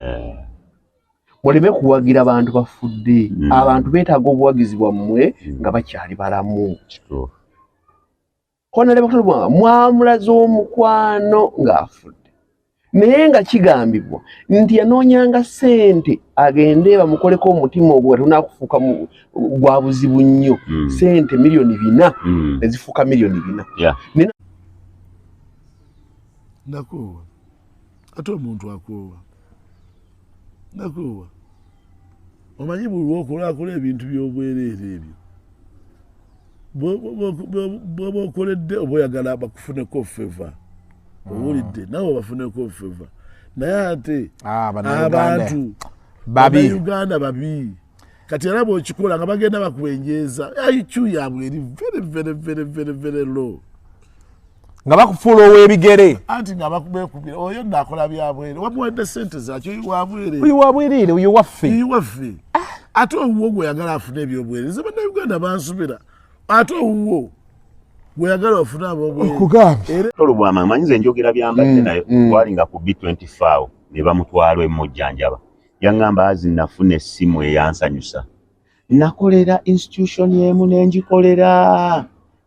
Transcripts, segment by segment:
eh. muleme kuwagira bantu bafudde mm. abantu betaaga obuwagizi bwammwe mm. nga bakyali balamu honalebakatulwa mwamulaza omukwano ng'afudde naye nga kigambibwa nti yanoonyanga ssente agende bamukoleko omutima ogwo nga tonakufuuka gwa buzibu nnyo mm. ssente miliyoni bina ezifuuka miliyoni bina nakuwa ate omuntu akoowa nakoowa omanyi buli lwokolakola ebintu byobwereere ebyo bwoba okoledde oba oyagala bakufuneko feva ah. owulidde nawe bafuneko feva naye ate ah, abantu babi uganda babi kati era bwokikola nga bagenda bakubenjeeza iq yaabwe eri very very very very very low nga bakufuula ow'ebigere anti nga bakubekubira oyo nakola byabwere wamuwadde sente zakyo wabwereoyo wabwerere oyo waffe oyo waffe ah. ate owuwo gweyagala afune ebyobwereza banauganda bansubira ate owuwo gweyagala ofune abobwereolubwama manyize enjogera byambadde mm, naye mm. walinga ku b24 ne bamutwala emujjanjaba Yaŋŋamba azi nnafuna essimu eyansanyusa. Nnakolera institution emu ne ngikolera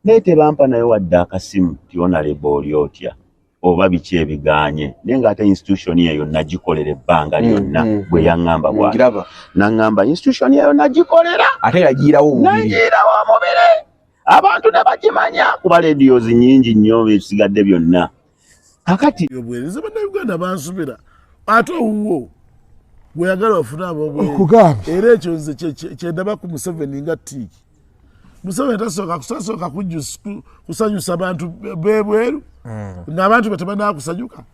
naye tebampa nayo wadde akasimu ti onalebo oli otya oba biki ebigaanye naye ng'ate institution eyo nagikolera ebbanga mm, lyonna mm, bwe mm. yaŋŋamba bwa naŋŋamba institution eyo nagikolera ate yagiirawo nagiirawo omubiri abantu ne bagimanya kuba lediyos nyingi nnyo bisigadde byonna akati obwereza bannayuganda bansubira ate owuwo gweyagala ofune abobwokugamba era ekyo nze kyendaba ku museveni nga tiiki museveni tasooka kusasooka kusanyusa bantu bebweru mm. ngaabantu be tebanakusanyuka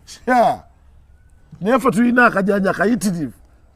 naye fe tulina akajanja kayitirivu